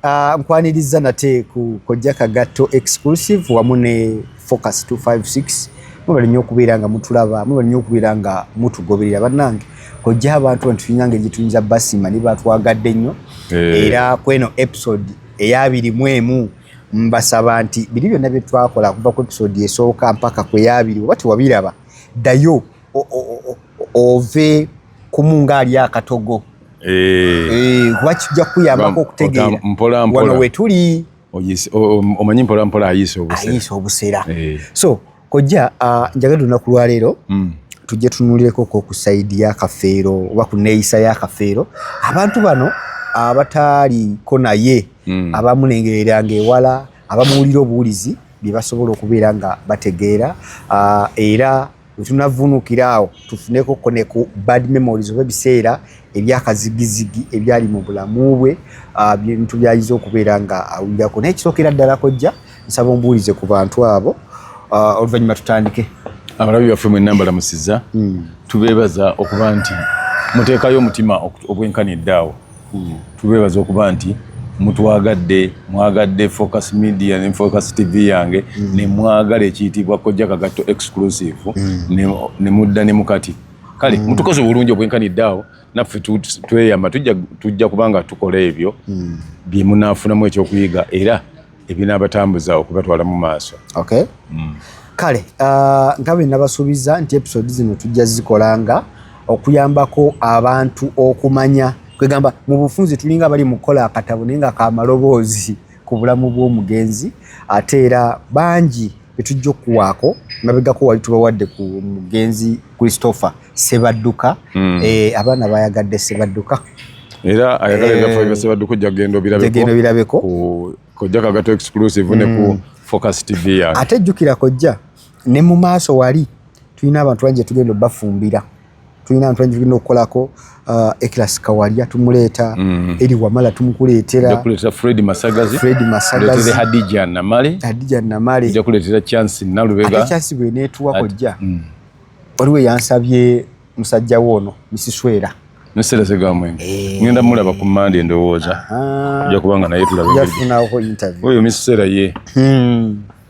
Ah, nkwaniriza nate ku kojja kagatto exclusive wamu ne focus 256 mubali nnyo okubeera nga mutulaba mubali nnyo okubeera nga mutugoberera bannange kojja abantu bantu tulina nga egituyinza basima ne batwagadde nnyo eh. era kweno episode eyabiri mu emu mbasaba nti biri byonna bye twakola kuva ku episode esooka mpaka kweyabiri oba tewabiraba ddayo ove kumu nga ali akatogo eh. Eh, kuba kijja kukuyambako okutegeera wano wetuli omanyi mpolampola ayiisa obusera eh. so kojja ah, njagala lunaku lwaleero hmm. tujje tunulireko ko ku saidi ya kafeero oba ku neeyisa ya kafeero abantu bano abataaliko naye hmm. abamulengereranga ewala abamuwulira obuwulizi bye basobola okubeera nga bategeera ah, era wetunavunukira awo tufuneko ko ne ku bad memories oba ebiseera ebyakazigizigi ebyali mu bulamu bwe ah, bintu byayinza okubeera nga awulirako naye kisookera ddala kojja nsaba ombuulize ku bantu abo ah, oluvannyuma tutandike abalabi baffe mwenna mbalamusiza hmm. tubeebaza okuba nti muteekayo omutima ogwenkanidde awo tubeebaza okuba nti mutwagadde mwagadde focus media ne focus tv yange mm. ne mwagala ekiyitibwa kojja kagatto exclusive mm. ne mudda ne mukati kale mm. mutukoze obulungi obwenkanidde awo naffe tweyama tujja kubanga tukola ebyo bye munaafunamu ekyokuyiga era ebinaabatambuza okubatwala mu maaso okay. mm. kale uh, nga bwe nabasuubiza nti episode zino tujja zikola nga okuyambako abantu okumanya kwegamba mu bufunzi tulinga bali mu kukola akatabo naye nga kamaloboozi ku bulamu bw'omugenzi ate era bangi betujja okuwaako mabegako wali tubawadde ku mugenzi christopher sebadduka mm. e, abaana bayagadde sebadduka era ayagala eh, ebyafaayo bya sebadduka ojja kugenda obirabeko kojja kagato exclusive mm. ne ku mm. focus tv yange ate jjukira kojja ne mu maaso wali tulina abantu bangi tugenda obafumbira tulina abantu bangi tulina okukolako uh, ekilasi kawalya tumuleeta mm. eri wamala tumukuleetera fred masagazi fred masagazi hadija namale hadija namale nja kuleetera chance nalubega ate chance bwe netuwa kojja mm. waliwo yansabye musajja woono misiswera nesera segamwenge eh. ngenda mulaba ku mande ndowooza oja kubanga naye tulaba oyo misisera ye hmm.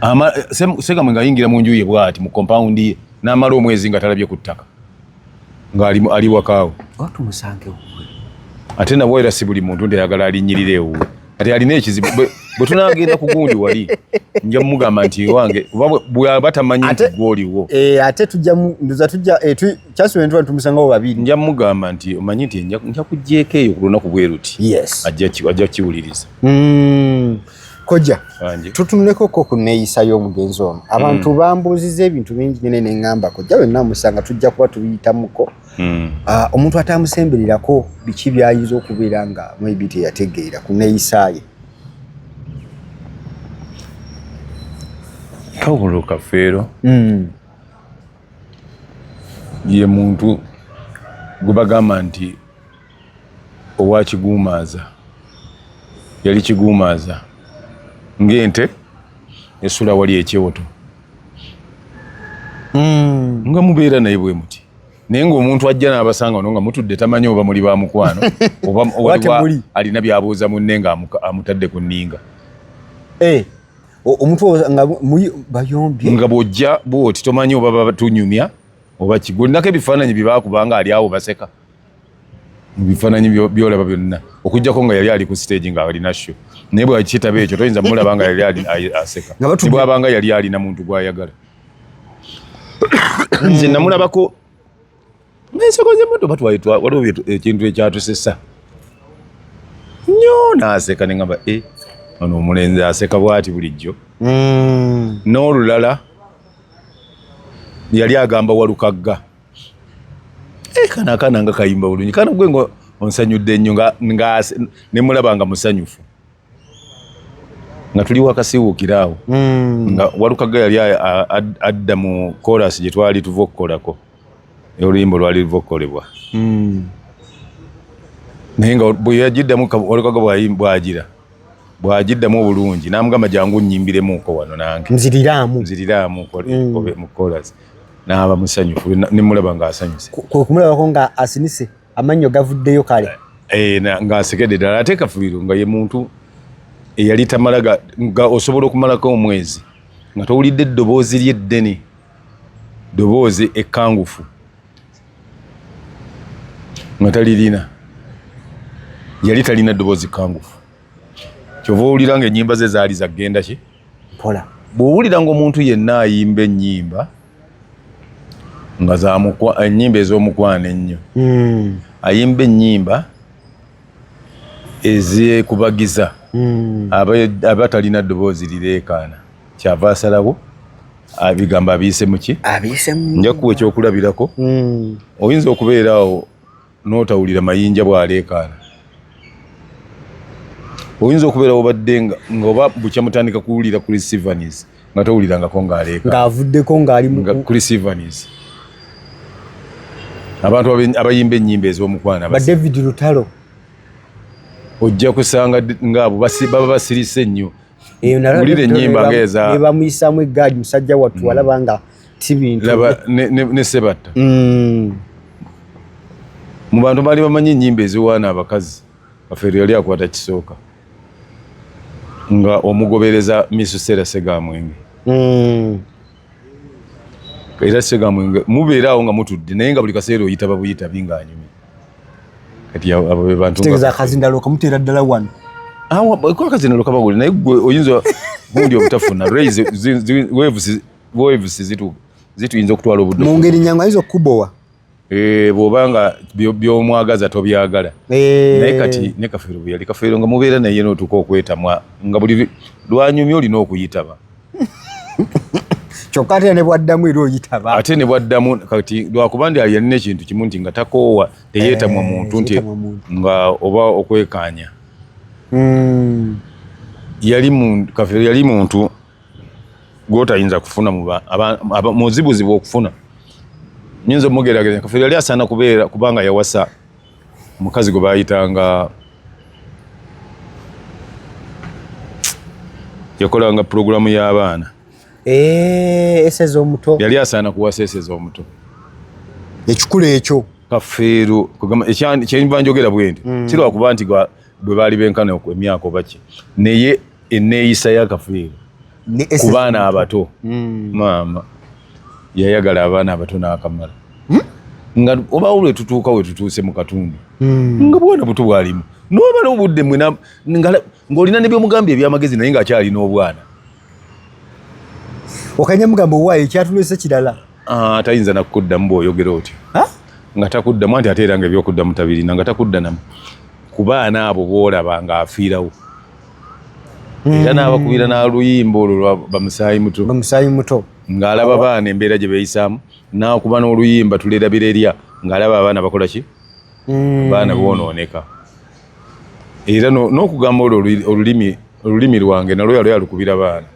ama sega mwenga yingira mu njuye bwati mu compound ye namara omwezi nga talabye ku ttaka nga ali ali wakaawo watu musange wuwe ate nabo era si buli muntu nti ayagala alinyirire ewu ati alina ekizibu bwe tunagenda ku gundi wali nja mugamba nti wange bwaba tamanyi nti gwoliwo eh, ate tujja nduza tujja eh, kyasuwentuba tumusangawo babiri nja mugamba nti omanyi nti nja kujjeeko eyo ku lunaku bweruti ajja kiwuliriza hmm. Kojja, tutunuleko ko ku neeyisa y'omugenzi ono. Abantu mm. bambuuzizza ebintu bingi nyine ne ngamba kojja wenna amusanga tujja kuba tubiyitamuko. Mm. Uh, omuntu atamusembererako biki byayinza okubeera nga maybe teyategeera ku neeyisa ye. Kawulo Kafeero mm. ye muntu gwe bagamba nti owa kiguumaaza yali kiguumaaza ng'ente esula wali ekyoto hmm. nga mubeera naye bwe muti naye ng'omuntu ajja n'abasanga ono nga mutudde tamanyi oba muli ba mukwano oba alina byabuuza munne nga amutadde ku nninga eh, omuntu nga bayombye nga bw'ojja bwoti tomanyi oba batunyumya oba kigulnako ebifaananyi bye baakubanga ali awo baseka mu bifaananyi byolaba byonna okujjako nga yali ali ku siteegi nga alina sho naye bwakitaba ekyo toyinza mulaba nga yali ali aseka tibwabanga yali alina muntu gwayagala nze namulabako enseko zemoto batwaitwa waliwo ekintu ekyatusesa nyo naseka nengamba e eh, ono omulenzi aseka bwati bulijjo mm. n'olulala yali agamba walukagga Eh, kana akana nga kayimba bulungi kana gwe nga onsanyudde nnyo nga ne mulaba nga musanyufu nga tuli wakasiwuukira awo hmm. nga walukaga yali adda mu korasi gye twali tuva okukolako oluyimba olwali luva okukolebwa hmm. naye nga bweyagiddamu walukaga bwagira bwagiddamu obulungi namugamba jangu nyimbiremuko wano nange nziriraamu nziriraamu hmm. mu korasi n'aba musanyufu ne mulaba ng'asanyuse kumulabako nga asinise amannyo gavuddeyo kale eh, eh, ng'asekedde ddala ate kafubiru nga ye muntu eyali tamala nga osobola okumalako omwezi nga towulidde eddoboozi ly'eddene ddoboozi ekkangufu nga talirina yali talina ddoboozi kkangufu kyova owulira nga ennyimba ze zaali zagenda ki mpola bw'owulira ng'omuntu yenna ayimba ennyimba nga ennyimba ez'omukwano ennyo hmm. ayimba ennyimba ezekubagiza hmm. aba talina ddoboozi lireekaana kyava asalawo abigambo abiyise muki njakuwa ekyokulabirako hmm. oyinza okubeera awo n'otawulira mayinja bw'aleekaana oyinza okubeera obadde nga oba bukya mutandika kuwulira Chris Evans nga towulirangako ng'aleeka ng'avuddeko ng'ali Chris Evans abantu abayimba ennyimba ez'omukwano ba David Lutalo ojja kusanga ng'abo baba basirise nnyo eyo nalawulira ennyimba ng'eza ne bamuyisaamu eggaali musajja wattu mm. walaba nga si bintu laba ne sebatta mm. mu bantu baali bamanyi ennyimba eziwaana abakazi afeero yali akwata kisooka nga omugobereza misusera segamwenge mm. era kigambo mubeera awo nga mutudde naye nga buli kaseera oyita babuyita binga anyumi kati abo be bantu tegeza akazindalo kamuteera ddala wano awo ah, ko akazindalo kabagule naye gwe oyinza gundi obutafuna raise waves waves zitu zituyinza okutwala obudde mu ngeri nyangu ayinza okukubowa Eh, bwoba nga byomwagaza tobyagala eh. naye kati ne kafeero bweyali kafeero nga mubeera naye notuuka okwetamwa nga buli lwanyumya olina okuyitaba kyokka ate nebwaddamu era oyitaba ate nebwaddamu kati lwakuba ndi yalina ekintu kimu nti nga takoowa teyeetamwa eh, muntu nti nga oba okwekaanya hmm. yali kafeero yali muntu gwotayinza kufuna muzibuzibu okufuna nyinza omugerageza kafeero yali asaana kubeera kubanga yawasa omukazi gwe bayitanga yakolanga pulogulamu y'abaana eh, eseza omuto yali asaana kuwasa eseza omuto ekikula ekyo kafeero kyenva njogera bwendi mm. kirwakuba nti bwe baali benkana emyaka obaki naye enneeyisa y'akafiiri ku baana abato hmm. maama yayagala abaana abato n'akamala hmm? nga obaawo lwe tutuuka we tutuuse mu katundu hmm. nga bwana buto bwalimu n'obala obudde mwe ng'olina ne byomugambye ebyamagezi naye ng'akyalina obwana okanya mugamba owaayo ekyatulese kirala ah, tayinza nakukuddamu bw'oyogera otyo nga takuddamu anti ate era nga ebyokuddamu tabirina nga takudda namu ku baana abo boolaba ng'afiirawo mm. era n'abakubira n'aluyimba olwo lwa bamusaayi muto bamusaayi muto ng'alaba baana embeera gye beeyisaamu n'akuba n'oluyimba tulerabira erya ng'alaba abaana bakola ki mm. baana boonooneka era n'okugamba olwo olulimi olulimi lwange nalwo yali alukubira baana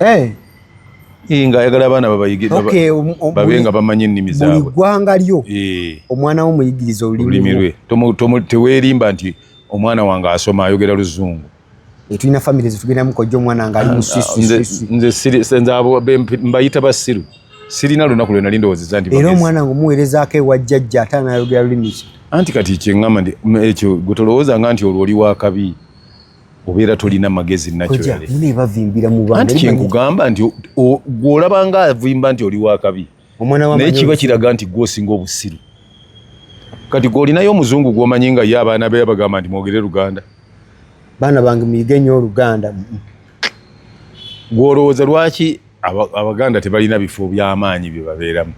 eh. nga ayagala abaana babayigebabe um, um, nga bamanyi ennimi zaabwe buli ggwanga lyo eh. omwana wo muyigiriza olulimi lwe teweerimba nti omwana wange asoma ayogera luzungu etulina famire zetugendamu kojja omwana nga ali musismbayita basiru sirina lunaku lwena lindowozeza nti era omwana nga omuweerezaako ewa jjajja ate anayogera lulimi ki anti kati kyeŋama nti ekyo gwe tolowooza nga nti olwo oli wakabi obeera tolina magezi nakyonebavimbira mubantu kyenkugamba nti gwolaba nga avimba nti oli wakabi omwana wa naye kiba kiraga nti gwe osinga obusiru kati gwe olinayo omuzungu gwomanyi nga ye abaana be bagamba nti mwogere luganda baana bange muyige nnyo oluganda gwolowooza lwaki abaganda tebalina bifo byamaanyi bye babeeramu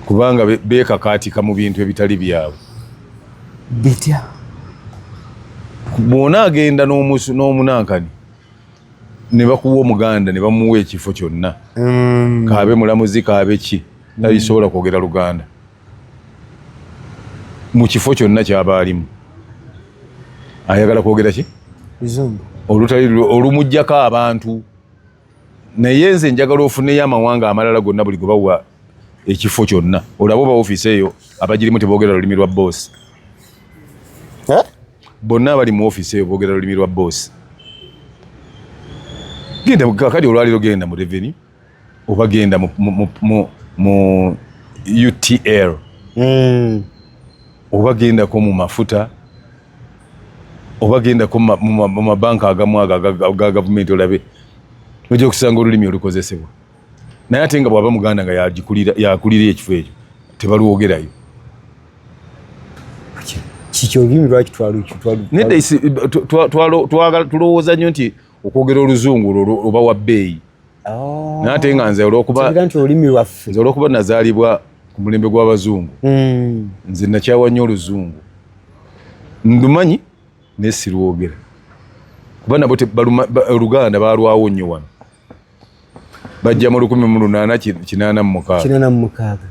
kubanga beekakaatika mu bintu ebitali byabwe bitya bwona agenda n'omunankani ne bakuwa omuganda ne bamuwa ekifo kyonna mm. kaabe mulamuzi kaabe ki tayisobola mm. kwogera luganda mu kifo kyonna kyaba alimu ayagala kwogera ki olutali olumugjako abantu naye nze njagala ofuneyo amawanga amalala gonna buli gwebawa ekifo kyonna olaba oba ofiisi eyo abagirimu teboogera lulimi lwa boosi bonna abali mu ofiisi eyo boogera lulimi lwa boosi genda kakati olwaliro genda mu reveni oba genda mu utl hmm. oba gendako mu mafuta oba gendako mu mabanka agamu aga gavumenti olabe ojja okusanga olulimi olukozesebwa naye ate nga bwaba muganda nga yakulira ekifo ekyo tebalwogerayo tulowooza nyo nti okwogera oluzungu oba wa bbeeyi oh. naye ate nga nze olwokuba nazaalibwa ku mulembe gw'abazungu hmm. nze nakyawa nnyo oluzungu ndumanyi naye sirwogera kuba nabo oluganda balwawo nnyo wano bajja mu lukumi mu lunaana kinaana mu mukaaga kinaana mu mukaaga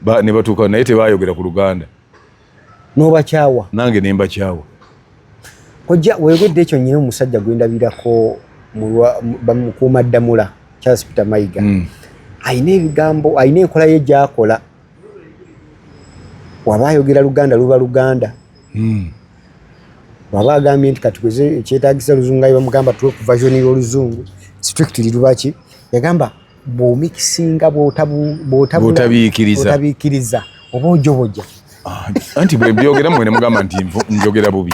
ba ne batuuka naye tebaayogera ku luganda n'obakyawa nange ne mbakyawa kojja weegedde ekyo nyina omusajja gwe ndabirako bamukuuma ddamula charles peter mayiga mm. alina ebigambo alina enkola ye gyakola waba ayogera luganda luba luganda hmm. waba agambye nti kati kweze ekyetagisa oluzungu ayi bamugamba tuwe ku version y'oluzungu strictly lubaki yagamba bwomikisinga bwotabiikiriza oba ojoboja ah, anti bwebyogera mwene mugamba nti njogera bubi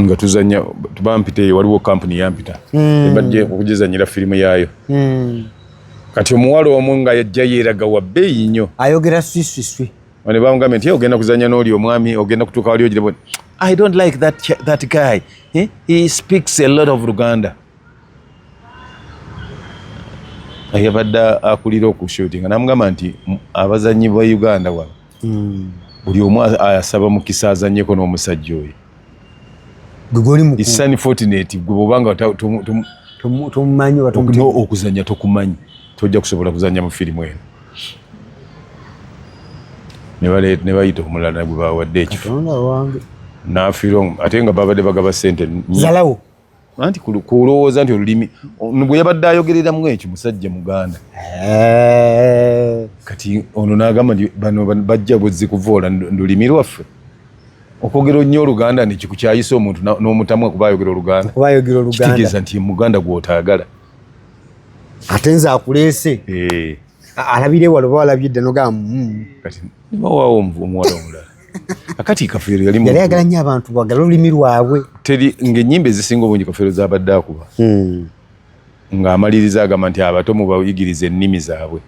nga tuzanya bampita eyo waliwo kampuni yampita mm. ebadde okugizanyira firimu yaayo mm. kati omuwala omu nga yajja yeeraga wa bbeeyi nnyo ayogera swiswiswi ne bamugambye nti ogenda kuzanya n'oli omwami ogenda kutuuka wali ogirebo i don't like that, that guy eh? he speaks a lot of luganda yabadde akulira okushutinga namugamba nti abazanyi ba uganda wano hmm. buli omu asaba mukisa azanyeko n'omusajja oyo isani fortunate gwe bwobanga tomumanyi okuzanya tokumanyi tojja kusobola kuzanya mu firimu eno nebayita omulala nagwe bawadde ekifo nafiirwa ate nga babadde bagaba sente zalawo anti kulowooza nti olulimi bwe yabadde ayogereramu ekyo musajja muganda eh. kati ono n'agamba nti bano bajja buzzi kuvoola lulimi lwaffe okwogera nnyo oluganda nekikukyayisa omuntu n'omutamwa kuba ayogera oluganda kitegeeza nti muganda gw'otaagala ate nze akuleese eh. alabire walo oba walabye dde nogamba mm. kati nibawawo omuwala omulala akati kafeero yali yali ayagala nnyo abantu bagala olulimi lwabwe teri ng'ennyimba ezisinga obungi kafeero zaabadde akuba hmm. ng'amaliriza agamba nti abato mubayigiriza ennimi zaabwe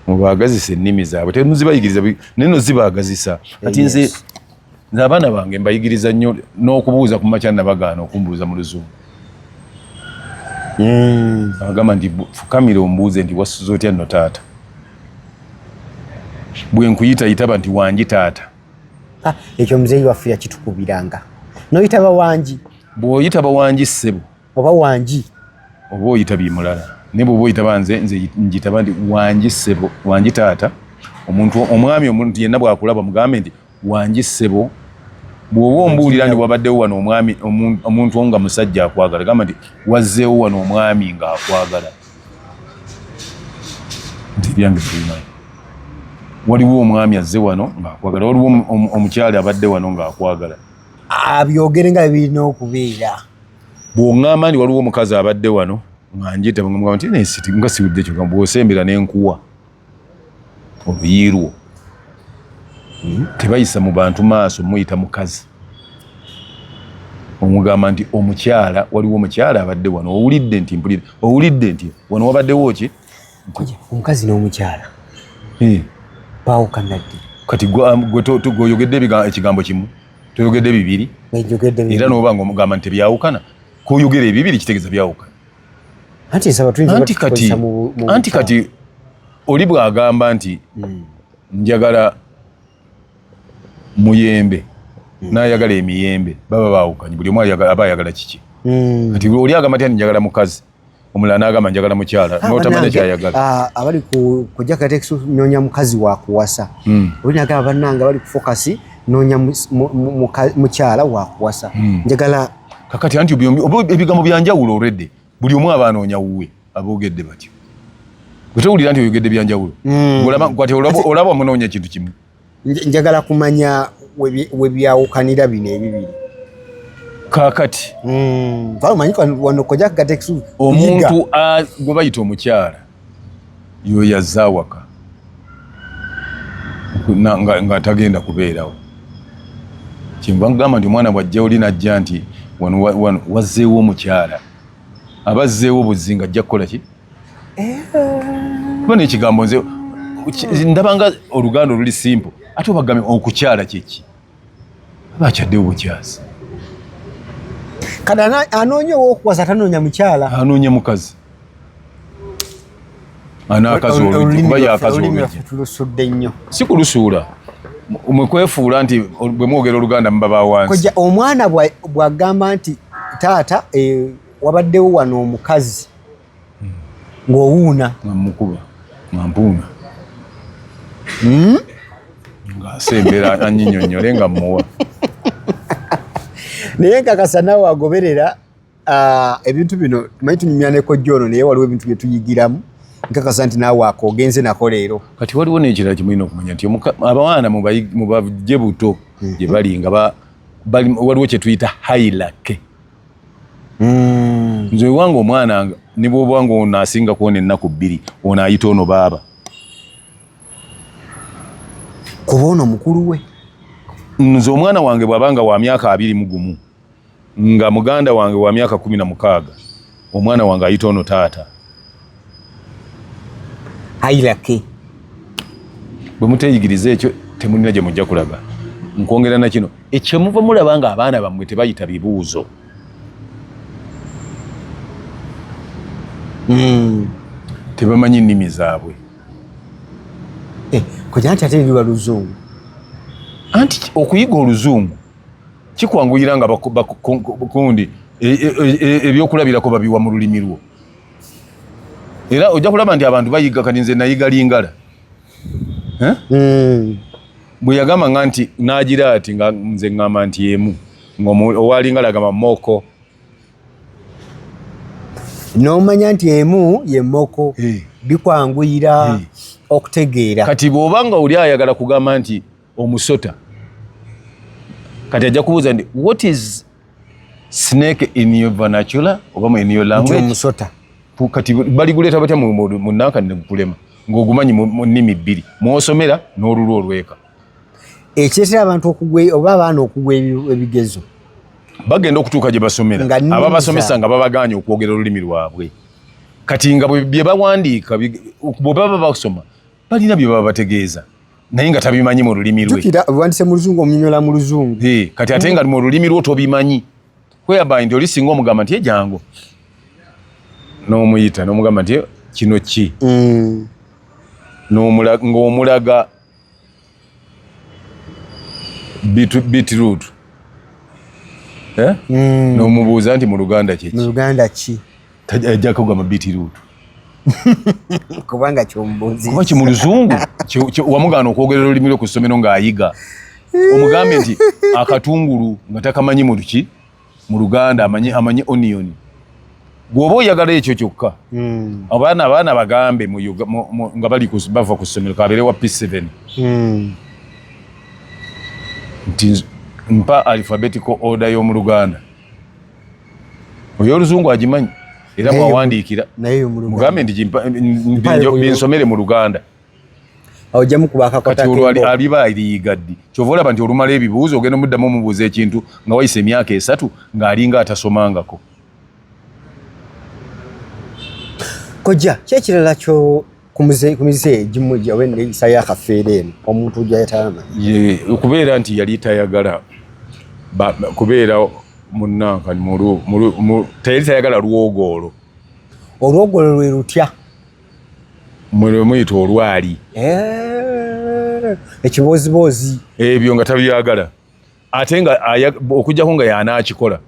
mubaagazisa ennimi zaabwe temuzibayigiriza naye no zibaagazisa kati nze nze abaana bange mbayigiriza nnyo n'okubuuza ku makya nabagaana okumbuuza mu luzungu hmm. agamba nti fukamire ombuuze nti wasuza otya no taata bwe nkuyita yitaba nti wangi taata ah, ekyo muzeeyi waffe yakitukubiranga noyitaba wangi bw'oyitaba wangi ssebo oba wangi oba oyita bimulala naye bwoba oyitaba nze nze njitaba nti wangi ssebo wangi taata omuntu omwami omuntu yenna bwakulaba mugambe nti wangi ssebo bw'oba ombuulira nti wabaddewo wano omwami omuntu nga musajja akwagala gamba nti wazzeewo wano omwami ng'akwagala nti ebyange bimanyi waliwo omwami azze wano ng'akwagala waliwo omukyala abadde wano ng'akwagala abyogere nga birina okubeera bw'oŋŋamba nti waliwo omukazi abadde wano nga njita nga nti nga siwudde kyo bw'osembera n'enkuwa oluyi lwo hmm? tebayisa mu bantu maaso muyita mukazi omugamba nti omukyala waliwo omukyala abadde wano owulidde nti mpulira owulidde nti wano wabaddewo ki omukazi n'omukyala eh. baawukanaddi kati gweoyogedde um, ekigambo kimu toyogedde bibiri era noba nga omugamba nti tebyawukana koyogera ebibiri kitegeeza byawukana anti nsaba tuyinza anti kati anti kati oli bwagamba nti hmm. njagala muyembe hmm. nayagala emiyembe baba bawukanye buli omu aba ayagala kiki hmm. kati oli agamba ti njagala mukazi omulala nagamba njagala mukyala ah, notamanya kyayagala ah, abali kujja katekisi nonya mukazi wakuwasa oli nagamba banange abali kufokasi nonya mukyala wakuwasa njagala kakati anti ebigambo byanjawulo already buli omu aba anoonya wuwe aboogedde batyo gwetowulira nti oyogedde byanjawulo hmm. olaba wamunoonya kintu kimu njagala kumanya webyawukanira bino ebibiri kakati hmm. omuntu gwebayita omukyala yoyo azze awaka nga tagenda kubeerawo kyenva nkugamba nti omwana bwajja oli najja nti wano wazzeewo omukyala aba azzeewo buzzi nga ajja kukola ki eh. kuba nekigambo nze ndabanga oluganda oluli simple ate obagambye okukyala kyeki Aba akyadde obukyazi. Kati anoonya ow'okuwasa atanoonya mukyala. Anoonya mukazi. Anaakazi olulimi kuba yaakazi olulimi. Olulimi lwaffe tulusudde nnyo. Si kulusuula. mwe kwefuula nti bwe mwogera oluganda muba ba wansi koja omwana bwagamba nti taata e, wabaddewo wano omukazi ng'owuuna ngamukuba ngampuuna hmm? ngasembera anyinyonyole nga muwa naye nkakasa nawe agoberera ah, ebintu bino tumanyi tunyumya nekojja ono naye waliwo ebintu byetuyigiramu nkakasa nti naawe ako ogenze nako leero kati waliwo nekirala kimulina okumanya nti abaana mubajje buto hmm. gye bali nga waliwo kyetuyita hailake mm. nze wange omwana ne bwoba nga ono asinga kuona ennaku bbiri ono ayita ono baaba kuba ono mukulu we nze omwana wange bwaba nga wa myaka abiri mu gumu nga muganda wange wa myaka kumi na mukaaga omwana wange ayita ono taata ayilake bwe muteyigiriza ekyo temulina gye mujja kulaga nkwongera na kino ekyemuva mulaba nga abaana bammwe tebayita bibuuzo hmm. tebamanyi nnimi zaabwe eh, kuja nti ate biba luzungu anti okuyiga oluzungu kikwanguyira nga bakundi e, e, e, ebyokulabirako babiwa mu lulimi lwo era ojja kulaba nti abantu bayiga kati nze nayiga lingala eh? hmm. bwe yagamba nga nti nagira ati nga nze ŋŋamba nti emu ngowalingala agamba moko nomanya nti emu ye moko eh. bikwanguyira eh. okutegeera kati bwoba nga oli ayagala kugamba nti omusota kati ajja kubuuza nti what is snake in your vernacular oba mu in your language omusota kati bali guleta batya mu mu nanka ne kulema ngogumanyi mu nimi bili mwosomera n'olulu olweka ekyesera abantu okugwe oba abaana okugwe ebigezo bagenda okutuuka gye basomera aba basomesa nga babaganye okwogera olulimi lwabwe kati nga bye bawandiika bwe baba basoma balina bye baba bategeeza naye nga tabimanyi mu lulimi lwe tukira wandise mu luzungu omunyonyola mu luzungu eh kati ate nga mu lulimi lwo tobimanyi whereby nti oli singa omugamba nti ejangu n'omuyita n'omugamba nti kino ki mm. ng'omulaga beetroot eh? mm. n'omubuuza nti mu luganda kiki tajja kugwa mu bitiruutu kubanga kyomubuuzi kuba kimu luzungu wamugaana okwogera olulimi lwe ku ssomero ng'ayiga omugambe nti akatungulu nga takamanyi mu luki mu luganda amanyi amanyi onioni gwoba oyagala ekyo kyokka hmm. abaana abaana bagambe nga bali bava ku ssomero kabeere wa p7 hmm. nti mpa alphabetical order y'omu luganda oyo oluzungu agimanyi era bwawandiikira mugambe nti binsomere mu luganda aliba aliyiga ddi kyova olaba nti olumala ebibuuzo ogenda omuddamu omubuuza ekintu nga wayisa emyaka esatu ng'alinga atasomangako kojja kyekirala ku mize egimu gyawe eneyisa yakafeera eno omuntu gyayatama okubeera nti yali tayagala kubeera munanka teyali tayagala lwogoolo olwogoolo lwe lutya mwe lwe muyita olwali eh, ekiboziboozi ebyo nga tabyagala ate nga okujjako nga yanaakikola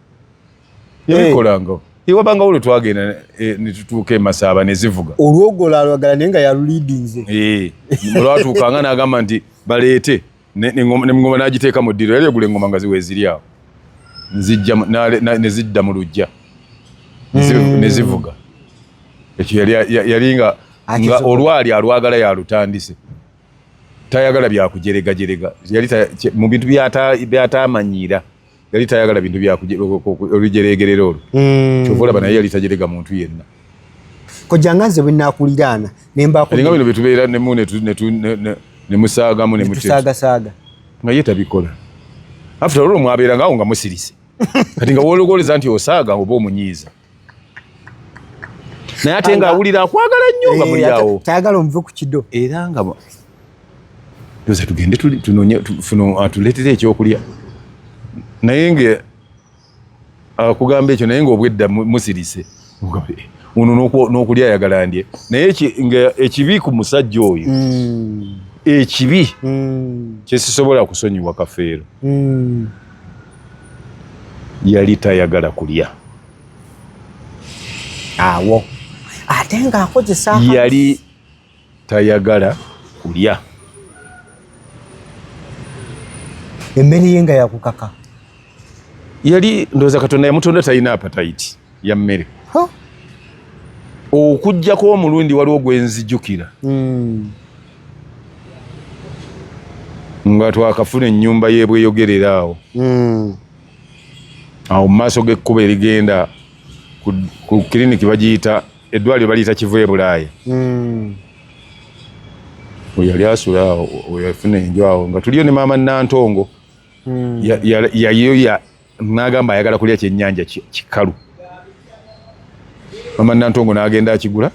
yabikolanga hey. iwabanga olwo twagenda eh, netutuuka emasaaba nezivuga olwogolaalwagala naye nga yaluliidinze eh, olwatuukanga nagamba nti baleete nengoma nagiteeka mu ddiro yali egula engoma nga ziweziri awo nezidda mu lujja hmm. nezivuga ekyo yali nga olwali alwagala yalutandise tayagala byakujeregajerega yali mu bintu byatamanyiira yali tayagala bintu byaolujeregerera olwo hmm. kyova olaba naye yali tajerega muntu yenna kojanga nze bwenakuliraana nembainga bino byetubeera nemu nemusaagamu nemusagasaaga nga ye tabikola after olwo mwabeerangawo nga musirise kati nga wologoleza nti osaaga oba omunyiiza naye ate nga awulira akwagala nnyo nga eh, muli awo tayagala omuve ku kido era nga ndoza tugende tunonye tuno atuleetere ah, ekyokulya naye nga akugamba ah, ekyo naye nga obwedda musirise ono n'okulya ayagala ndye naye nga ekibi ku musajja oyo hmm. ekibi hmm. kyesisobola kusonyiwa kafeero hmm. yali tayagala kulya awo ate nga akozesa yali tayagala kulya emmere ye nga yakukaka yali ndowooza katonda yamutonda talina apatayiti ya mmere okujjako omulundi waliwo gwenzijukira hmm. nga twakafuna ennyumba y'ebweyogerera awo hmm. awo mu maaso g'ekkuba erigenda ku kiriniki bagiyita eddwaliro baliyita kivu e bulaaya hmm. weyali asula awo weyafuna enju awo nga tuliyo ne maama nantongo yayo Nagamba ayagala kulya kyenyanja kikalu. Mama Nantongo nagenda akigula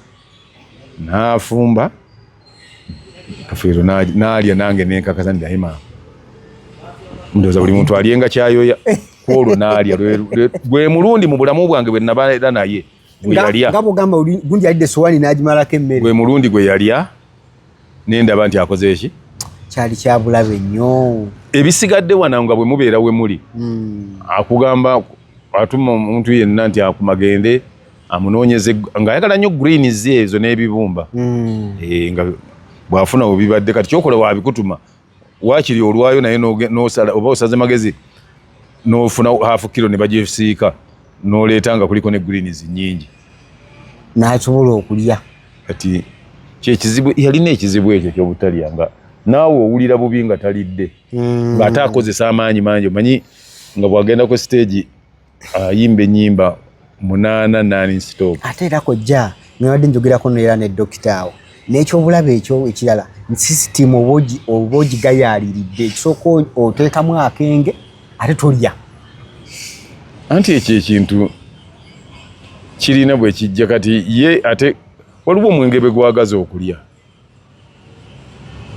nafumba kafiro nalya nange nenkakaza nti daima ndoza buli muntu alyenga kyayoya kwolwo nalya gwe mulundi mu bulamu bwange bwe naba era naye gweyalya nga bwogamba gundi yalidde sowani n'agimalako emmere gwe mulundi gwe yalya nendaba nti akoze eki kyali kyabulabe nnyo ebisigadde wana nga bwe mubeera we muli hmm. akugamba atuma omuntu yenna nti akumagende amunoonyeze ng'ayagala nnyo greens ezo n'ebibumba hmm. eh, nga bw'afuna webibadde kati kyokola wabikutuma wakiri olwayo naye nosala oba osaze magezi nofuna half kilo ne bajefisiika noleeta nga kuliko ne greens nyingi nasobola okulya kati kyekizibu yalina ekizibu ekyo kyobutalya nga naawe owulira bubi nga talidde mm. ngaate akozesa amaanyi mangi omanyi nga bwagenda ku siteegi ayimba enyimba munana nani stop ate era kojja nabadde njogerako neera ne dokita awo n'ekyobulabe ekyo ekirala sisitimu oba ogigayaaliridde ekisooka oteekamu akenge ate tolya anti ekyo ekintu kirina bwe kijja kati ye ate waliwo omwenge bwe gwagaza okulya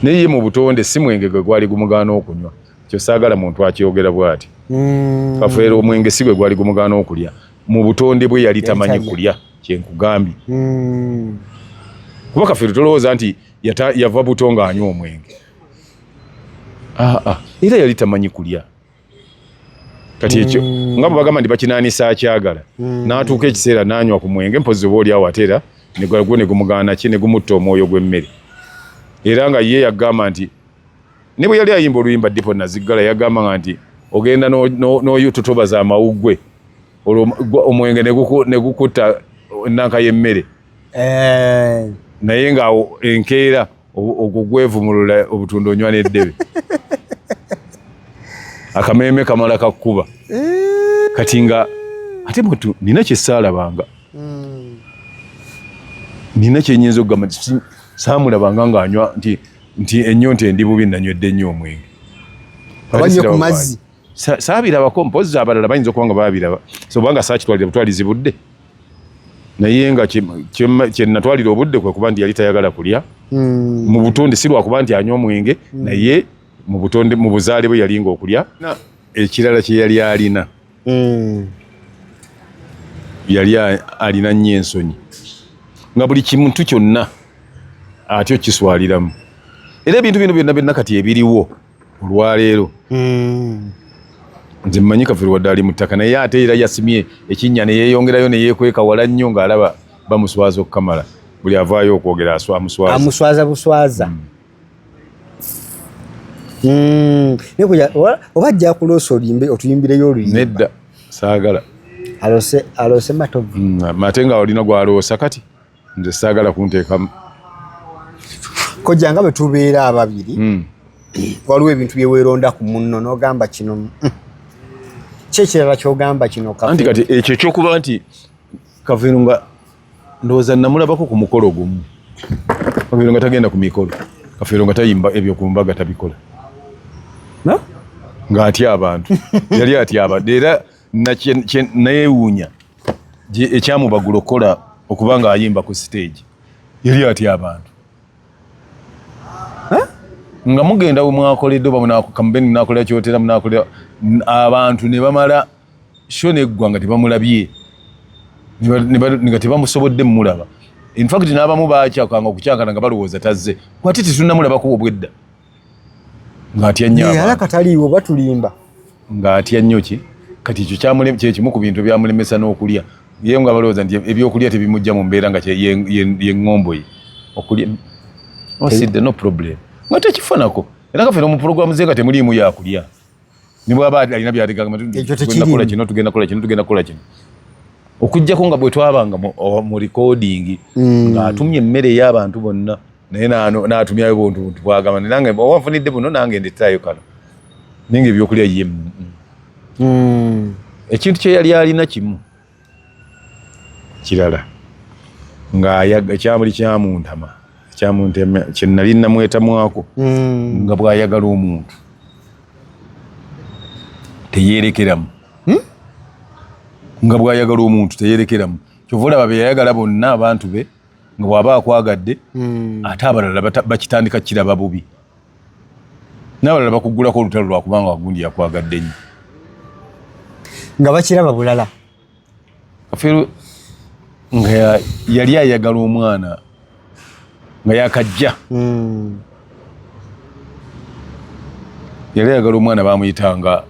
naye ye mu butonde si mwenge gwe gwali gumugaana okunywa kyo saagala muntu akyogera bwati mm. kafeera omwenge si gwe gwali gumugaana okulya mu butonde bwe yali tamanyi kulya kyenkugambye mm. kuba kafeero tolowooza nti yava buto ng'anywa omwenge aa ah, ah. era yali tamanyi kulya kati ekyo mm. nga bwebagamba nti bakinaanisa akyagala mm. n'atuuka ekiseera n'anywa ku mwenge mpozi oba oli awo ate era negwo negumugaana ki negumutta omwoyo gw'emmere era nga ye yagamba nti ne bwe yali ayimba oluyimba dipo naziggala yagamba nga nti ogenda n'oyututobaza amawuggwe olwo omwenge negukutta enanka y'emmere eh. naye ng'awo enkeera ogwo gwevumulula obutunda onywa n'eddebe akameeme kamala kakkuba eh. kati nga ate mutu nina kyesaalabanga hmm. nina kyenyinza okugamba nti saamulabanga ng'anywa nti nti ennyonta endi bubi nanywedde nnyo omwenge abanywe ku mazzi saabirabako mpozi abalala bayinza okuba nga baabiraba sobanga saakitwalira butwalizi budde naye nga kyenatwalira obudde kwe kuba nti yali tayagala kulya hmm. mu butonde si lwakuba nti anywa omwenge hmm. naye mu butonde mu buzaale bwe yalinga okulya ekirala kye yali alina hmm. yali alina nnyo ensonyi nga buli kimuntu kyonna atyo kiswaliramu era ebintu bino byonna byonna kati ebiriwo olwaleero hmm. nze mmanyi kafiri wadde ali mu ttaka naye ate era yasimye ekinnya ne yeeyongerayo ne yeekweka wala nnyo ng'alaba bamuswaza okukamala buli avaayo okwogera amuswaza amuswaza buswaza hmm. Hmm. oba ajja kuloosa olimbe otuyimbireyo oluyimba nedda saagala alose alose matovu ate nga olina gwaloosa kati nze saagala kunteekamu kojja nga bwe tubeera ababiri hmm. waliwo ebintu bye weeronda ku munno n'ogamba kino hmm, ki ekirala ky'ogamba kino anti kati ekyo ekyokuba nti kaveero nga ndowooza namulabako ku mukolo gumu kaveero nga tagenda ku mikolo kaveero nga tayimba ebyo ku mbaga tabikola ng'atya abantu yali atya abantu era nayeewuunya ekyamubagula okukola okuba nga ayimba ku stage yali atya abantu nga mugenda wemwakoledde oba munakamubeni munakolera kyotera munakolera abantu ne bamala sho neggwa nga tebamulabye nga tebamusobodde mumulaba infact n'abamu bakyakanga okukyakana nga balowooza tazze kwate tetunamulabako obwedda ng'atya nnyo abantu. Yalaka taliiwo batulimba. Ng'atya nnyo ki? Kati ekyo kyamulema kye kimu ku bintu byamulemesa n'okulya. Ye nga balowooza nti ebyokulya tebimujja mu mbeera nga ye ng'ombo ye. Okulya osidde oh, no problem. Nga tekifanako. Era kaffe no mu pulogulaamu ze nga temuliimu yakulya. ne bwaba alina byaligamba tunakola kino tugenda kola kino tugenda kola kino okujjako nga bwe twabanga mu oh, recording mm. ng'atumye emmere ey'abantu bonna naye n'atumyayo buntu buntu bwagamba nange oba nfunidde buno nange ndetaayo kano naye nga ebyokulya ye mm. ekintu kye yali alina kimu kirala nga ekyamuli kyamuntama kyamuntema kyenali namwetamwako hmm. nga bwayagala omuntu teyerekeramu hmm? nga bwayagala omuntu teyerekeramu kyova olaba beyayagala bonna abantu be nga bwaba akwagadde hmm. ate abalala bakitandika kiraba bubi n'abalala bakuggulako olutalo lwa kubanga wagundi yakwagadde nnyo nga bakiraba bulala kafeero nga yali ayagala omwana nga yakajja hmm. yali ayagala omwana bamuyitanga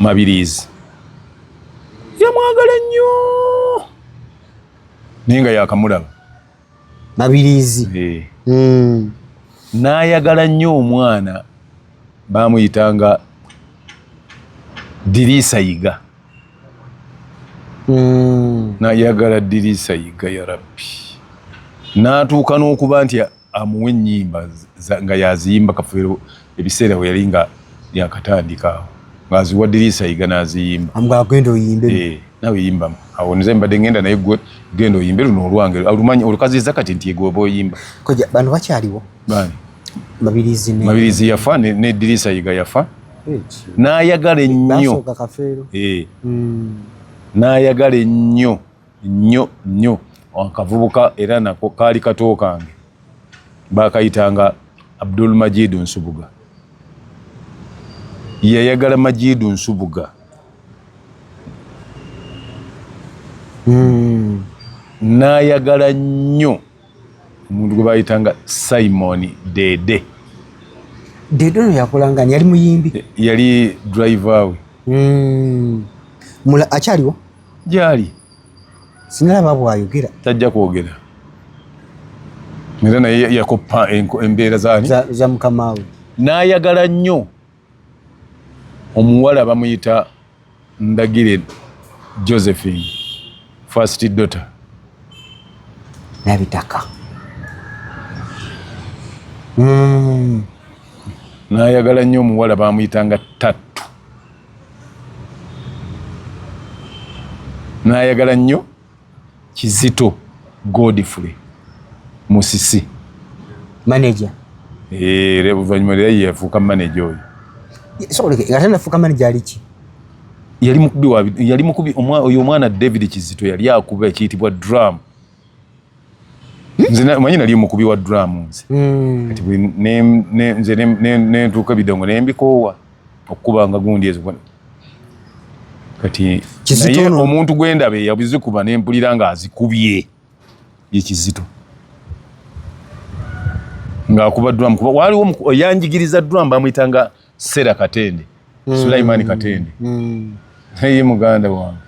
mabiriizi yamwagala nnyo naye nga yakamulaba mabiriizi eh. hmm. n'ayagala nnyo omwana baamuyitanga diriisa yiga hmm. nayagala diriisa yiga ya rabbi n'atuuka n'okuba nti amuwa ennyimba nga yaziyimba kafeero ebiseera we yali nga yakatandika awo ng'aziwa diriisa yiga n'aziyimba amugamba genda oyimbe eh, nawe yimbamu awo nze mbadde ngenda naye gwe genda oyimbe luno olwange alumanyi olukaziza kati nti egwe oba oyimba koja bano bakyaliwo bani mabirizi ne mabirizi yafa ne, ne diriisa yiga yafa n'ayagala ennyo eh. hmm. n'ayagala ennyo nnyo nnyo akavubuka era nako kaali kato kange bakayitanga abdul majidu nsubuga yayagala majidu nsubuga hmm. nayagala nnyo omuntu gwe bayitanga simon dede dede ono yakolanga yali muyimbi yali driver we hmm. akyaliwo gyali sinalaba bwayogera tajja kwogera era naye yakoppa embeera zani za mukamaawe n'ayagala nnyo omuwala bamuyita ndagire josephine first daughter nabitaka mm. n'ayagala nnyo omuwala bamuyitanga tatu nayagala nnyo kizito godfrey musisi manaja eh, oluvanyuma era yeyafuuka manaja oyo ate nafuuka manaja aliki yali mukubi oyo omwana david kizito yali akuba ekiyitibwa drum nze manyi nali omukubi wa duramu nze hmm. kati nze nentuuka ebidongo nembikoowa okukuba nga gundi ezo kati naye omuntu gwendaba eyabizikuba nempulira nga azikubye yekizito ngaakuba duramu kuba waliwo yanjigiriza duramu bamuyitanga Sera Katende mm. Sulaimani Katende mm. naye muganda wange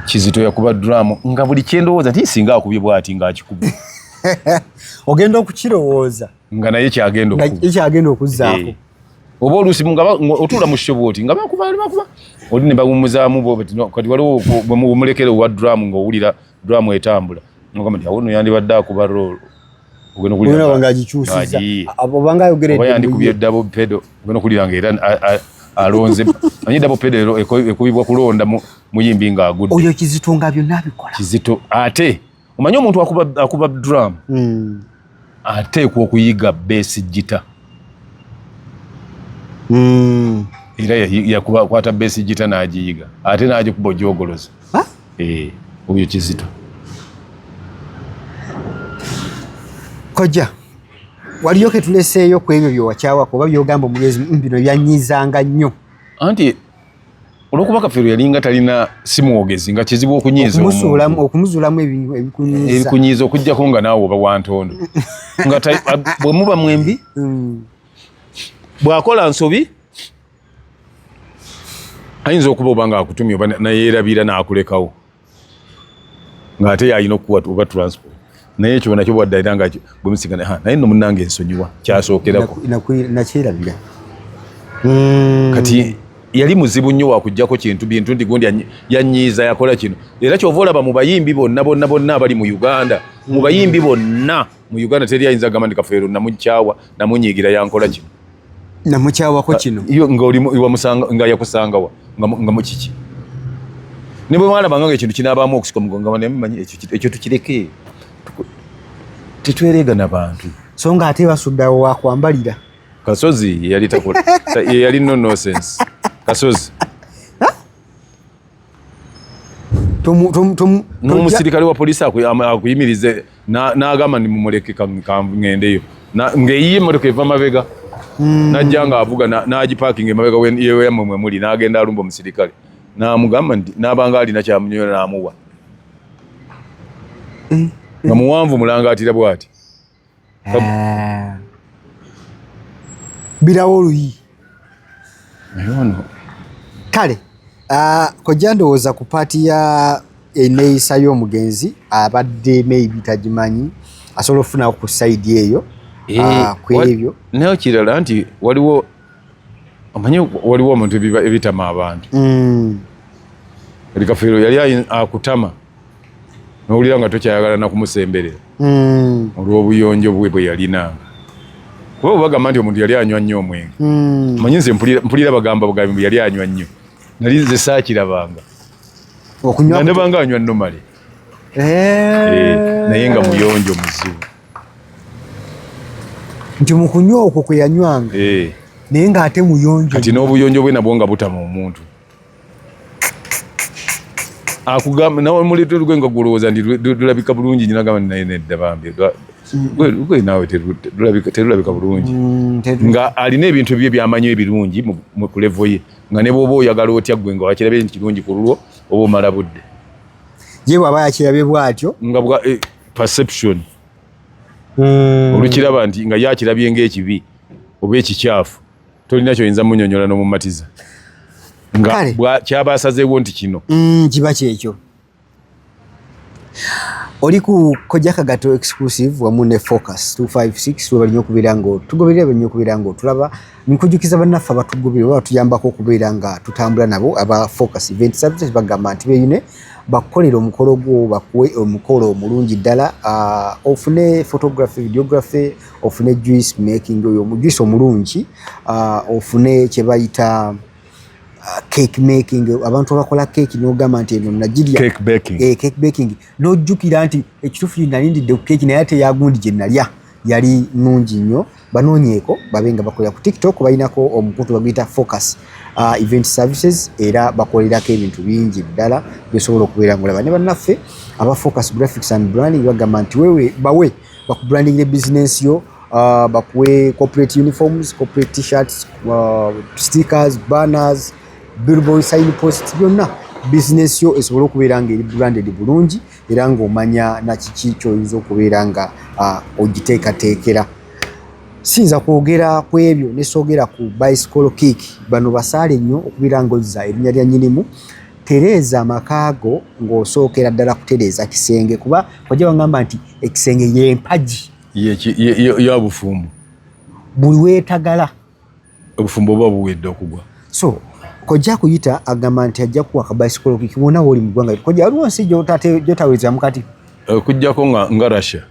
kizito yakuba drum nga buli kyendowooza nti singa akubye bwati nga akikuba ogenda okukirowooza nga naye kyagenda okuzzaako eh. oba oluusi otuula mu shobo oti nga bakuba bakuba oli ne bawumuzaamu kati waliwo bwemulekera owa drum ng'owulira drum etambula Mugamba nti awuno yandibadde akuba roll. Ogenda kulira. Ogenda wanga agikyusiza. Abo banga ayogere. Oba yandi kubye double pedal. Ogenda kulira nga era alonze. Anyi double pedal ekubibwa kulonda muyimbi nga agudde. Oyo kizito nga byonna abikola. Kizito ate omanyi omuntu akuba akuba drum. Mm. ateekwa okuyiga beesi gita hmm. era yakwata beesi gita n'agiyiga ate n'agikuba ojogoloza eh, oyo kizito kojja waliyo ketuleseeyo ku ebyo byewakyawako oba byogamba omugezi mm, bino byanyizanga nnyo anti olwokuba kafeero yalinga talina simwogezi nga kizibu okunyiiza okumuzuulamu ebikunyiiza okujjako nga naawe oba wantondo nga bwe muba mwembi hmm. bw'akola nsobi ayinza okuba oba nga akutumye oba nayeerabira n'akulekawo ng'ate yalina okukuwa oba transport naye ekyo nakyo bwadde alina nga gwemusigana ha naye no munange ensonyiwa kyasookerako nakyerabira hmm. kati yali muzibu nnyo wakujjako kintu bintu nti gundi yanyiiza yakola kino era kyova olaba mu bayimbi bonna bonna bonna abali mu uganda mu bayimbi bonna mu uganda teri ayinza gamba nti kafeero namukyawa namunyiigira yankola kino namukyawako kino nga yakusangawa nga mukiki ne bwe mwalabanga nga ekintu kinabaamu okusika omugongo naye mumanyi ekyo tukireke tetwereega na bantu so nga ate basuddawo wakwambalira kasozi yeyali nonosense kasozi n'omusirikale wa poliisi akuyimirize n'agamba ni mumuleke kangendeyo ng'eyiye emmotoka eva mabega hmm. najja ng'avuga n'agipaakinga emabega yeyamwe mwe muli n'agenda alumba omusirikale n'amugamba nti n'abanga alina kyamunyola n'amuwa hmm. nga muwanvu mulangaatira bw'ati Eh. birawo oluyi kale ah, kojja ndowooza ku paati ya eneeyisa y'omugenzi abadde maybe tagimanyi asobola okufunawo ku saidi eyo eh, ah, ku ebyo nayo kirala nti waliwo omanyi waliwo omuntu ebitama abantu mm. ebikafeero yali akutama nowulira nga tokyayagala nakumusemberera hmm. olwobuyonjo bwe bwe yalina kuba bwebagamba nti omuntu yali anywa nnyo omwenge hmm. manyi nze mpulira bagamba bugambi mbu yali anywa nnyo nali nze saakirabanga nebanga anywa nomale eh. eh, naye nga muyonjo muzibu nti mukunywa okwo kweyanywanga eh. naye nga ate muyonjo kati n'obuyonjo bwe nabwo nga butama omuntu akugamba nawe muleeta olugwe nga gwolowooza nti lulabika bulungi nyina gamba naye nedda bambi lugwe naawe terulabika bulungi mm, nga alina ebintu ebyo byamanyi ebirungi ku levo ye nga ne bwoba oyagala otya gwe nga wakirabye nti kirungi ku lulwo oba omala budde ye bwaba yakirabye bwatyo nga bwa eh, perception mm. olukiraba nti nga yakirabye ngaekibi oba ekikyafu tolina kyoyinza munyonyola nomumatiza nga kyaba asazeewo nti kino mm, kiba kyekyo oli ku kojja kagato exclusive wamu ne focus 256 webali nyo okubeera nga tugoberera bali nyo okubeera nga otulaba nkujukiza bannaffe abatugobere oba batuyambako okubeera nga tutambula nabo aba focus event services bagamba nti beyune bakukolera omukolo gwo bakuwe omukolo omulungi ddala ah, ofune photography videography ofune juice making oyo omujuice omulungi uh, ofune kyebayita uh, cake making abantu abakola cake nogamba nti eno nagirya cake baking, eh, cake baking. nojjukira nti ekitufu nalindidde ku cake naye ate yagundi gye nalya yali nungi nnyo banoonyeeko babe nga bakolera ku tiktok balinako omukutu baguyita focus uh, event services era bakolerako ebintu bingi ddala byosobola okubeera ngaolaba ne bannaffe aba focus graphics and branding bagamba nti wewe bawe bakubrandingira business yo uh, bakuwe corporate uniforms corporate t-shirts uh, stickers banners billboard sign posts byonna business yo esobole okubeera nga eri branded bulungi era ng'omanya nakiki kyoyinza okubeera nga uh, ogiteekateekera siyinza kwogera ku ebyo nesoogera ku bicycle kick bano basaale nnyo okubeera nga ozza erinnya lya nyinimu tereeza amaka go ng'osookera ddala kutereeza kisenge kuba ojja wangamba nti ekisenge yempagi yabufumbo buli wetagala obufumbo oba buwedde okugwa so kojja kuyita agamba nti ajja kuwa kabaisikola kikibona woli mu ggwanga kojja waliwo nsi gyotaweerezamu kati okujjako eh, nga nga russia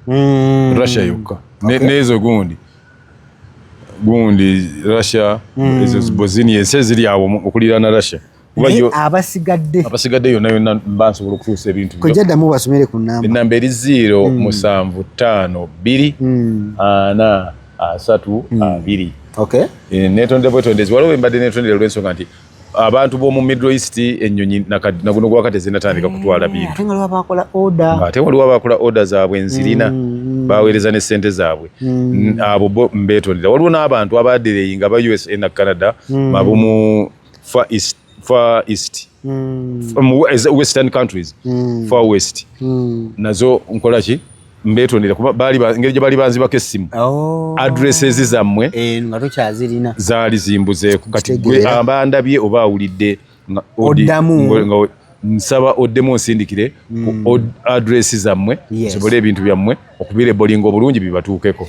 mm. russia yokka neezo gundi gundi russia mm. ezo bosini ensi eziri awo okuliraana russia abasigadde abasigadde yonna yonna mba nsobola okutuusa ebintu kojja ddamu basomere ku namba ennamba eri ziiro hmm. musanvu ttaano bbiri hmm. ana asatu hmm. abiri eh, netonde bwetondezi waliwo embadde netondera olwensonga nti abantu b'omu middle east ennyonyi naguno gwaka tezinatandika kutwala eh, bintu ate waliwo abakola oda zaabwe nzirina baweereza ne sente zaabwe abo mbeetondera waliwo n'abantu abadereyi nga ba usa na canada mabumu far east far east mm. from western countries mm. far west mm. nazo nkola ki mbetondera kuba bali ngeri gye bali banzi bako essimu oh. addresses zammwe eh, nga tokyazirina zaali zimbuzeeko kati gwe abandabye oba awulidde oddamu nsaba oddemu onsindikire ku mm. addresses zammwe yes. sobole ebintu byammwe okubira ebolinga obulungi bibatuukeko